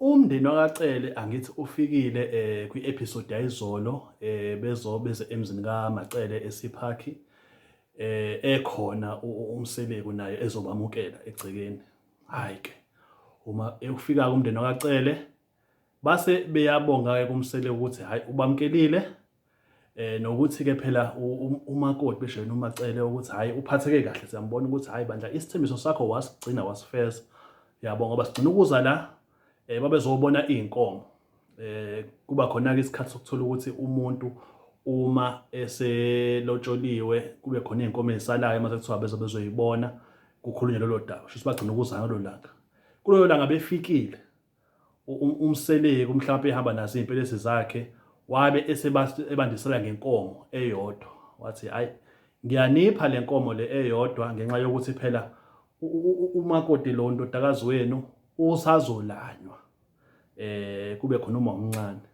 Umndeni wakaCele angithi ufikile eh kwi episode yayizolo eh bezobeze emzini kaMacele eSipark eh ekhona umseleku naye ezobamukela egcekeni hayi ke uma ekufika kumndeni wakaCele base beyabonga ke kumseleku ukuthi hayi ubamkelile eh nokuthi ke phela umakoti besho yena umacele ukuthi hayi uphatheke kahle siyambona ukuthi hayi bandla isithembiso sakho wasigcina wasifeza yabo ngoba sigcina ukuza la eh babezobona izinkomo eh kuba khona ke isikhathi sokuthola ukuthi umuntu uma eselotsholiwe kube khona izinkomo ezisalayo mase kuthiwa beze bezoyibona kukhulunywa lelo daba sho bagcina ukuza ngalo langa kulo langa befikile umseleku mhlawumbe ehamba nazo iy'mpelesi zakhe wabe esebandisela ngenkomo eyodwa wathi hhayi ngiyanipha le nkomo le eyodwa ngenxa yokuthi phela umakoti lo ndodakazi wenu usazolanywa eh kube khona uma omncane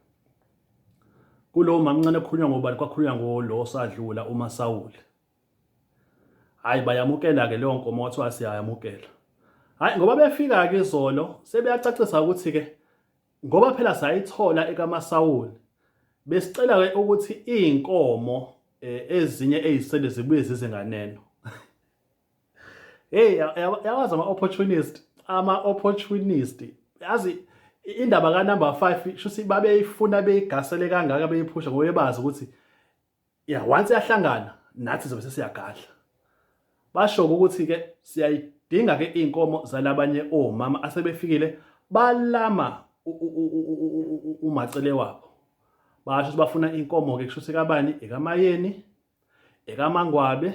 kulowo mamncane okhulunywa ngobani kwakhulunywa ngolo osadlula umasawule hayi bayamukela-ke leyo nkomo kwathiwa siyayamukela hayi ngoba befika-ke izolo sebeyacacisa ukuthi-ke ngoba phela sayithola ekamasawuni besicela-ke ukuthi iy'nkomo eh, ezinye ey'sele zibuye zizinganeno hey yawazi ama-opportunist ama-opportunist yazi indaba ka-number five shuthi babeyifuna beyigasele kangaka beyiphusha ngoba bebazi ukuthi ya once yahlangana nathi zobe sesiyagadla basho ukuthi ke siyayidinga ke inkomo zalabanye omama asebefikile balama umacele wabo basho ukuthi bafuna inkomo ke kusho sekabani ekamayeni ekamangwabe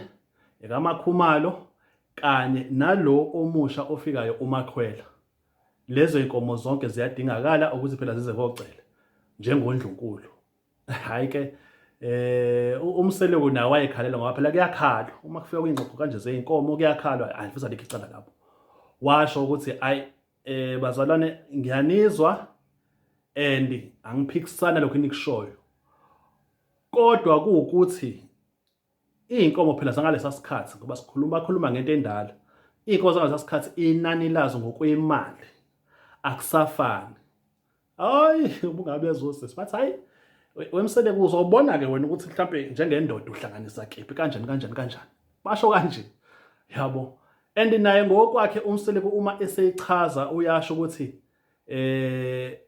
ekamakhumalo kanye nalo omusha ofikayo umakhwela lezo inkomo zonke ziyadingakala ukuthi phela zize kogcele njengondlunkulu Hhayi ke eh umseleku nawo wayekhalela ngoba phela kuyakhalwa uma kufika kwingxoxo kanje zeyinkomo kuyakhalwa angifisa likhe icala lapho washo ukuthi ayi eh bazalwane ngiyanizwa and angiphikisana lokho enikushoyo kodwa kuwukuthi iy'nkomo phela zangalesa sikhathi ngoba sikhuluma bakhuluma ngento endala iy'nkomo zangalesa sikhathi inani lazo ngokwemali akusafani hayi ubungabe ezosisi bathi hayi wemsele kuzo ubona-ke wena ukuthi mhlawumpe njengendoda uhlanganisa kephi kanjani kanjani kanjani basho kanje yabo and naye ngokwakhe umseleku uma eseyichaza uyasho ukuthi eh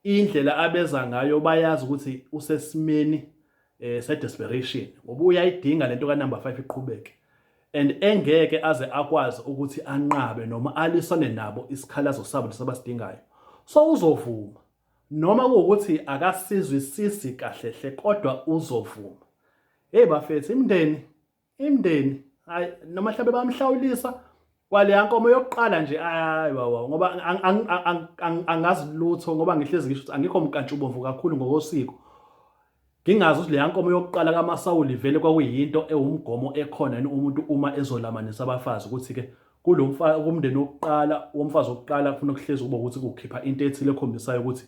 indlela abeza ngayo bayazi ukuthi usesimeni eh se desperation ngoba uyayidinga lento ka number 5 iqhubeke and engeke aze akwazi ukuthi anqabe noma alisane nabo isikhalazo sabo lesabasidingayo so uzovuma noma kuwukuthi akasizwe sisi kahle hle kodwa uzovuma hey bafethu imndeni imndeni hayi noma mhlawumbe bamhlawulisa kwaleya nkomo yokuqala nje hayi wawa ngoba angazi lutho ngoba ngihlezi ngisho ukuthi angikho mkantshubovu kakhulu ngokosiko Ngingazi ukuthi leya nkomo yokuqala kaMasawuli vele kwakuyinto ewumgomo ekhona yini umuntu uma ezolamanisa abafazi ukuthi-ke kulo mfazi kumndeni wokuqala womfazi wokuqala kufuna kuhlezi kuba ukuthi kukhipha into ethile ekhombisayo ukuthi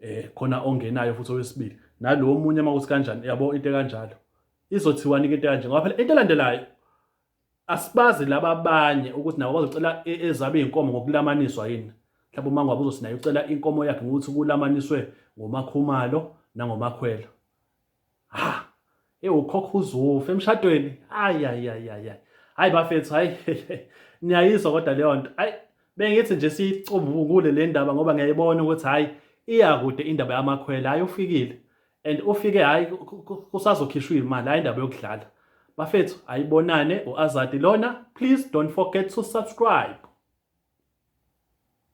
eh khona ongenayo futhi owesibili nalowo munye uma kuthi kanjani yabo into kanjalo izothiwani into kanje ngoba phela into elandelayo asibazi laba abanye ukuthi nabo bazocela e, ezabe iy'nkomo ngokulamaniswa yini mhlawumbe umangwaba uzothi naye ucela inkomo yakhe ngokuthi kulamaniswe ngomakhumalo nangomakhwela ha ewukhokha uzofa emshadweni ayayayayay hayi bafethu hayi niyayizwa kodwa leyo nto hayi bengithi nje siyicumbukule le ndaba ngoba ngiyayibona ukuthi hayi iyakude indaba yamakhwela hayi ufikile and ufike hayi kusazokhishwa imali hayi indaba yokudlala bafethu ayibonane uAzadi lona please don't forget to subscribe